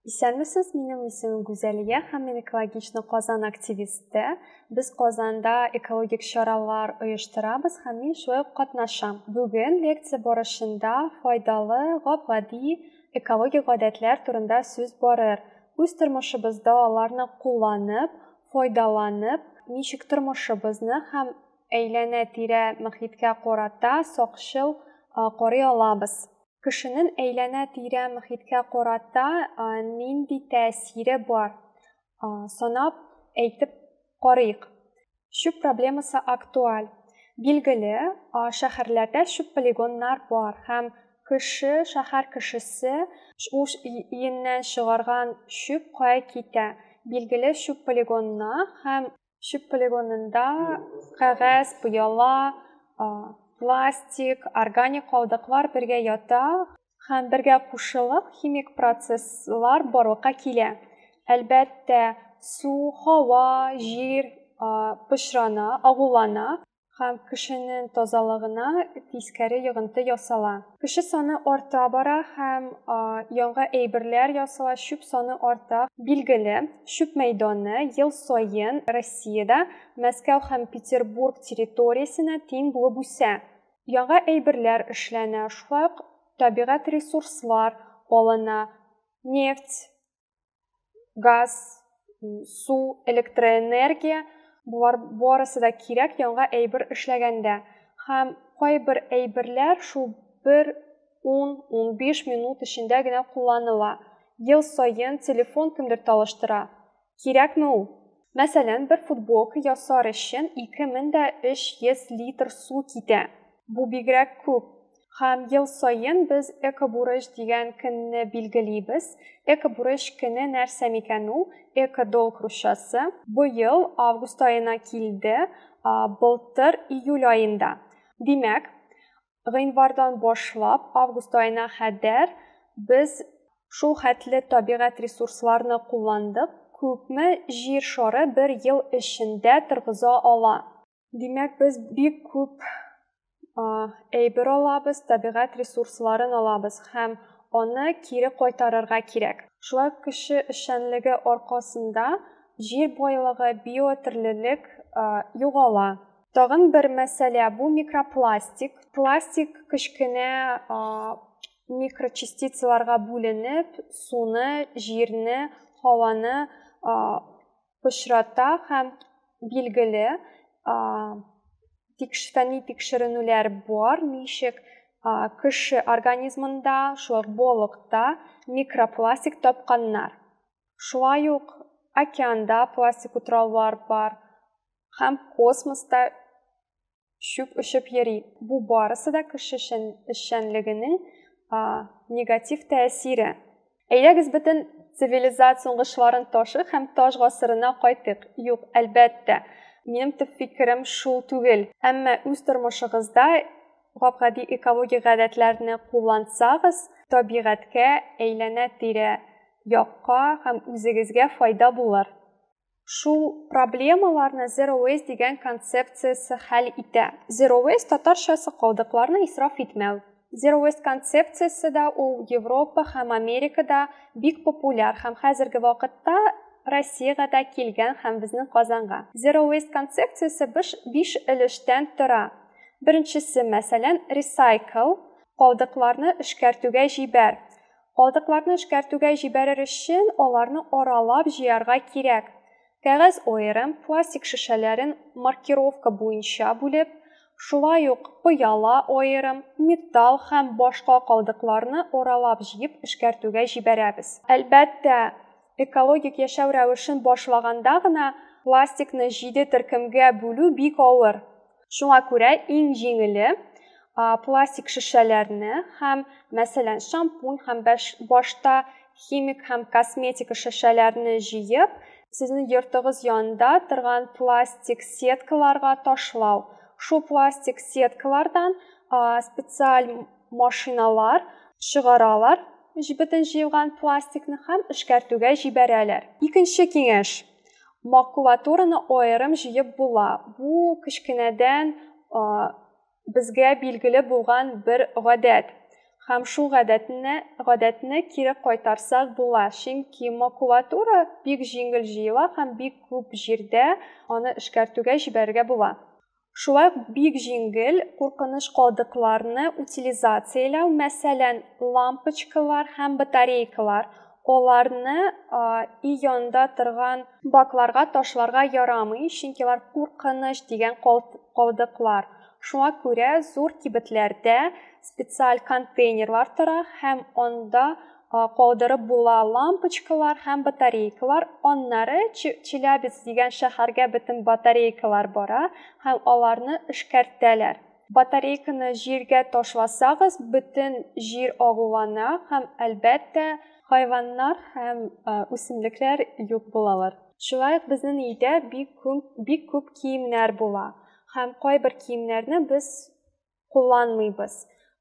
Исәнмесез, минем исемем Гүзәлия һәм мин экологичны Казан активисты. Без Казанда экологик чаралар оештырабыз һәм мин шулай ук катнашам. Бүген лекция барышында файдалы, гап-гади экологик гадәтләр турында сүз барыр. Үз тормышыбызда аларны кулланып, файдаланып, ничек тормышыбызны һәм Әйләнә-тирә мөхиткә карата сакчыл карый алабыз. Кешенең әйләнә-тирә мөхиткә карата нинди тәэсире бар? Санап әйтеп карыйк. Чүп проблемасы актуаль. Билгеле, шәһәрләрдә чүп полигоннар бар һәм кеше, шәһәр кешесе үз өеннән чыгарган чүп кая китә? Билгеле чүп полигонына һәм Чүп полигонында кәгазь, пыяла, пластик, органик калдыклар бергә ята һәм бергә кушылып химик процесслар барлыкка килә. Әлбәттә, су, һава, җир пычрана, агулана. һәм кешенең тазалыгына тискәре йогынты ясала. Кеше саны арта бара һәм яңа әйберләр ясала, чүп саны арта. Билгеле, чүп мәйданы ел саен Россиядә Мәскәү һәм Петербург территориясенә тиң булып үсә. Яңа әйберләр эшләнә, шулай ук табигать ресурслар алына, нефть, газ, су, электроэнергия, болар барысы да кирәк яңа әйбер эшләгәндә. Һәм кайбер әйберләр шул бер 10-15 минут эчендә генә кулланыла. Ел саен телефон кемдер талыштыра. Кирәкме ул? Мәсәлән, бер футболка ясар өчен 2300 литр су китә. Бу бигрәк күп. Һәм ел саен без Экобурыч дигән көнне билгелибез. Экобурыч көне нәрсә микән ул? Экодолг русчасы. Быел август аена килде, былтыр июль аенда. Димәк, гыйнвардан башлап август аена кадәр без шул хәтле табигать ресурсларны кулландык, күпме җир шары бер ел эчендә торгыза ала? Димәк, без бик күп әйбер алабыз, табигать ресурсларын алабыз һәм аны кире кайтарырга кирәк. Шулай кеше эшчәнлеге аркасында җир байлыгы, биотөрлелек югала. Тагын бер мәсьәлә бу микропластик. Пластик кечкенә микрочастицаларга бүленеп, суны, җирне, һаваны пычрата һәм билгеле фәнни тикшеренүләр бар, ничек кеше организмында, шулай болыкта микропластик тапканнар. Шулай ук океанда пластик утраулар бар һәм космоста чүп очып йөри. Бу барысы да кеше эшчәнлегенең негатив тәэсире. Әйдәгез бөтен цивилизация уңышларын ташы һәм таш гасырына кайтык. Юк, әлбәттә, минем төп фикерем шул түгел. Әмма үз тормышыгызда гап-гади экологик гадәтләрне куллансагыз, табигатькә, әйләнә-тирә якка һәм үзегезгә файда булыр. Шул проблемаларны Zero Waste дигән концепциясе хәл итә. Zero Waste татарчасы калдыкларны исраф итмәү. Zero Waste концепциясе дә ул Европа һәм Америкада бик популяр һәм хәзерге вакытта Россиягә дә килгән һәм безнең Казанга. Zero Waste концепциясе биш өлештән тора. Беренчесе, мәсәлән, ресайкл, калдыкларны эшкәртүгә җибәр. Калдыкларны эшкәртүгә җибәрер өчен аларны аралап җыярга кирәк. Кәгазь аерым, пластик шешәләрен маркировка буенча бүлеп, шулай ук пыяла аерым, металл һәм башка калдыкларны аралап җыеп эшкәртүгә җибәрәбез. Әлбәттә, экологик яшәү рәвешен башлаганда гына пластикны җиде төркемгә бүлү бик авыр. Шуңа күрә иң җиңеле пластик шешәләрне һәм, мәсәлән, шампунь һәм башта химик һәм косметика шешәләрне җыеп, сезнең йортыгыз янында торган пластик сеткаларга ташлау. Шул пластик сеткалардан специаль машиналар чыгаралар бөтен җыелган пластикны һәм эшкәртүгә җибәрәләр. Икенче киңәш, Макулатураны аерым җыеп була. Бу кечкенәдән безгә билгеле булган бер гадәт. Һәм шул гадәтне, гадәтне кире кайтарсак була, чөнки макулатура бик җиңел җыела һәм бик күп җирдә аны эшкәртүгә җибәрергә була. Шулай ук бик җиңел куркыныч калдыкларны утилизацияләү, мәсәлән, лампочкалар һәм батарейкалар, аларны өй янында торган бакларга ташларга ярамый, чөнки алар куркыныч дигән калдыклар. Шуңа күрә зур кибетләрдә специаль контейнерлар тора һәм анда калдырып була лампочкалар һәм батарейкалар. Аннары Челябец дигән шәһәргә бөтен батарейкалар бара һәм аларны эшкәртәләр. Батарейканы җиргә ташласагыз, бөтен җир агулана һәм, әлбәттә, хайваннар һәм үсемлекләр юк булалар. Шулай ук безнең өйдә бик күп, бик күп киемнәр була һәм кайбер киемнәрне без кулланмыйбыз.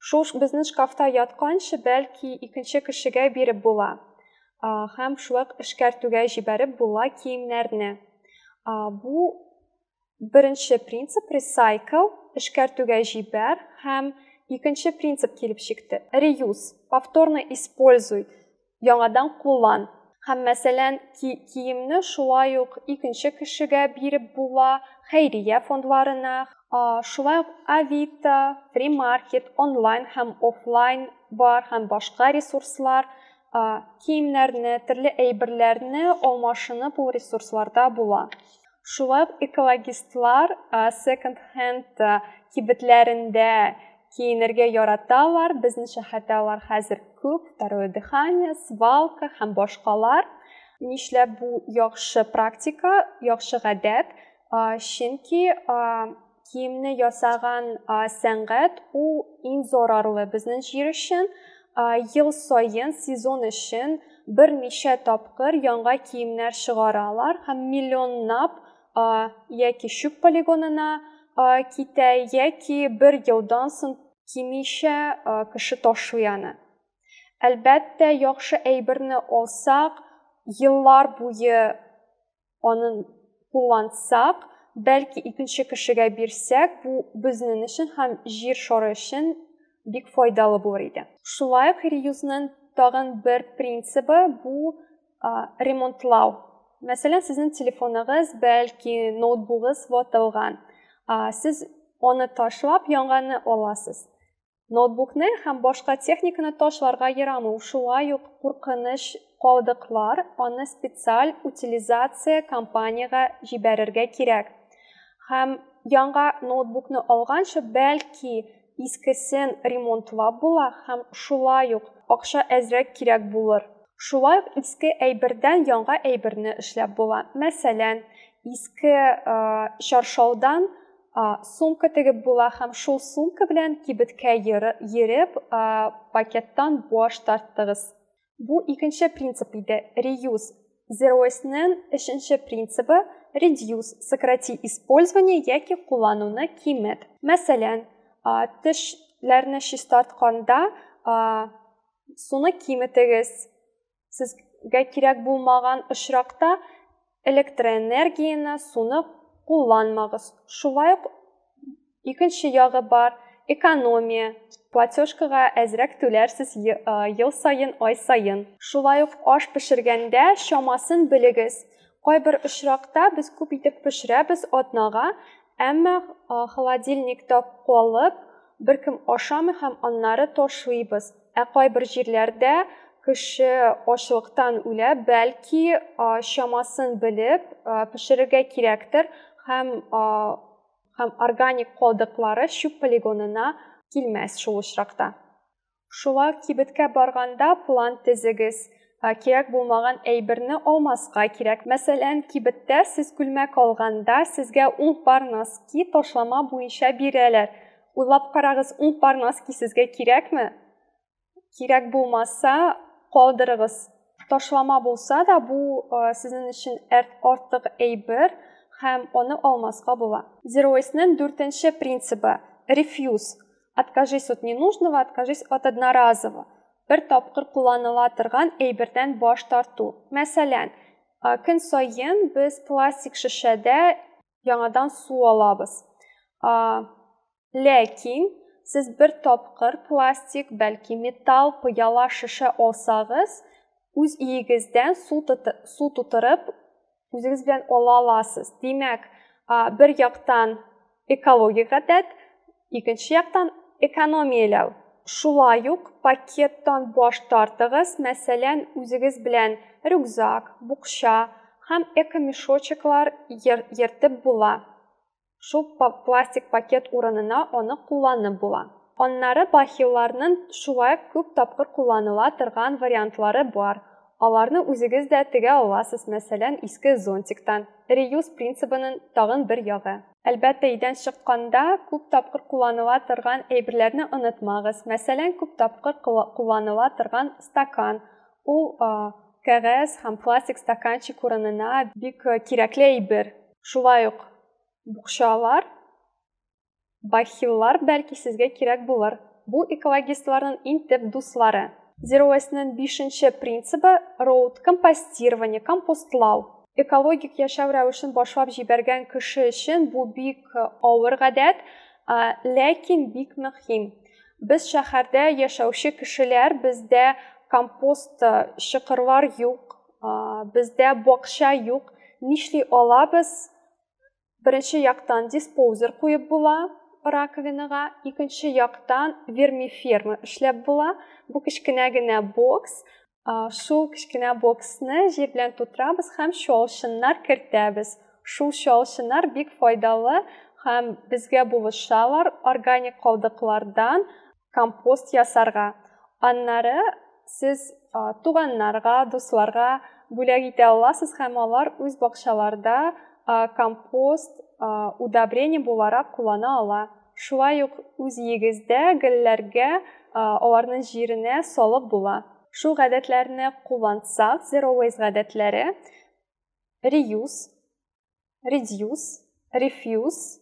Шул безнең шкафта ятканчы, бәлки, икенче кешегә биреп була. Һәм шулай эшкәртүгә җибәреп була киемнәрне. Бу беренче принцип recycle, эшкәртүгә җибәр һәм икенче принцип килеп чыкты. Reuse, повторно используй. яңадан куллан. Һәм, мәсәлән, ки киемне шулай ук икенче кешегә биреп була, хәйрия фондларына, шулай ук Авито, Фримаркет, онлайн һәм офлайн бар һәм башка ресурслар, киемнәрне, төрле әйберләрне алмашынып ул ресурсларда була. Шулай экологистлар секонд-хенд кибетләрендә киенергә яраталар. Безнең шәһәрдә алар хәзер күп, второе дыхание, свалка һәм башкалар. Нишләп бу яхшы практика, яхшы гадәт? Чөнки Киемне ясаган сәнгать ул иң зарарлы безнең җир өчен. Ел саен сезон өчен берничә тапкыр яңа киемнәр чыгаралар һәм миллионнап яки чүп полигонына китә, яки бер елдан соң кимичә кеше ташлый аны. Әлбәттә, яхшы әйберне алсак, еллар буе аны куллансак, бәлки икенче кешегә бирсәк, бу безнең өчен һәм җир шары өчен бик файдалы булыр иде. Шулай ук реюзның тагын бер принцибы бу ремонтлау. Мәсәлән, сезнең телефоныгыз, бәлки ноутбугыгыз ватылган. Сез аны ташлап, яңаны аласыз. Ноутбукны һәм башка техниканы ташларга ярамый, шулай ук куркыныч калдыклар, аны специаль утилизация компаниягә җибәрергә кирәк. Һәм яңа ноутбукны алганчы, бәлки искесен ремонтлап була һәм шулай ук акча әзрәк кирәк булыр. Шулай ук иске әйбердән яңа әйберне эшләп була. Мәсәлән, иске чаршаудан сумка тегеп була һәм шул сумка белән кибеткә йөреп пакеттан баш тарттыгыз. Бу икенче принцип иде, реюз. Зероснен өченче принцибы reduce, сократи использование яки куллануны кимет. Мәсәлән, тешләрне чистартканда суны киметегез, Сезгә кирәк булмаган очракта электроэнергияне, суны кулланмагыз. Шулай ук икенче ягы бар, экономия. Платежкага әзрәк түләрсез ел саен, ай саен. Шулай ук аш пешергәндә чамасын белегез. Кайбер очракта без күп итеп пешерәбез атнага, әмма холодильникта калып, Беркем ашамый һәм аннары ташлыйбыз. Ә кайбер җирләрдә кеше ачлыктан үлә, бәлки, чамасын белеп, пешерергә кирәктер һәм һәм органик калдыклары чүп полигонына килмәс шул очракта. Шулар кибеткә барганда план тезегез. Кирәк булмаган әйберне алмаска кирәк. Мәсәлән, кибеттә сез күлмәк алганда, сезгә ун пар носки ташлама буенча бирәләр. Уйлап карагыз, ун пар носки сезгә кирәкме? Кирәк булмаса, калдырыгыз. Ташлама булса да, бу сезнең өчен артык әйбер һәм аны алмаска була. Зероэснең дүртенче принцибы, рефьюз. Откажись от ненужного, откажись от одноразового. Бер тапкыр кулланыла торган әйбердән баш тарту. Мәсәлән, көн саен без пластик шешәдә яңадан су алабыз. Ләкин сез бер тапкыр пластик, бәлки металл, пыяла, шешә алсагыз, үз иегездән су тутырып үзегез белән ала аласыз. Димәк, бер яктан экологик гадәт, икенче яктан экономияләү. Шулай ук пакеттан баш тартыгыз, мәсәлән, үзегез белән рюкзак, букча һәм экомешочеклар ертып була. Шул пластик пакет урынына аны кулланып була. Аннары бахилларнын шулай күп тапкыр кулланыла торган вариантлары бар. Аларны үзегез дә тегә аласыз, мәсәлән, иске зонтиктан. Реюз принцибынын тагын бер ягы. Әлбәттә, өйдән чыкканда күп тапкыр кулланыла торган әйберләрне онытмагыз. Мәсәлән, күп тапкыр кулланыла торган стакан. Ул кәгазь һәм пластик стаканчик урынына бик кирәкле әйбер. Шулай ук букчалар, бахиллар бәлки сезгә кирәк булыр. Бу экологистларның иң төп дуслары. Zero Waste-ның бишенче принцибы роут компостирование, компостлау. Экологик яшәү рәвешен башлап җибәргән кеше өчен бу бик авыр гадәт, ләкин бик мөһим. Без шәһәрдә яшәүче кешеләр, бездә компост чокырлар юк, Бездә бакча юк. Нишли алабыз? Беренче яктан диспозер куеп була раковинага, икенче яктан вермиферма эшләп була. Бу кечкенә генә бокс. Шул кечкенә боксны җир белән тутырабыз һәм чалчыннар кертәбез. Шул чалчыннар бик файдалы һәм безгә булышалар органик калдыклардан компост ясарга. Аннары сез туганнарга, дусларга бүләк итә аласыз һәм алар үз бакчаларда компост удобрение буларак куллана ала. Шулай ук үз егездә гөлләргә аларның җиренә салып була. Шул гадәтләрне куллансак, zero waste гадәтләре reuse, reduce, refuse,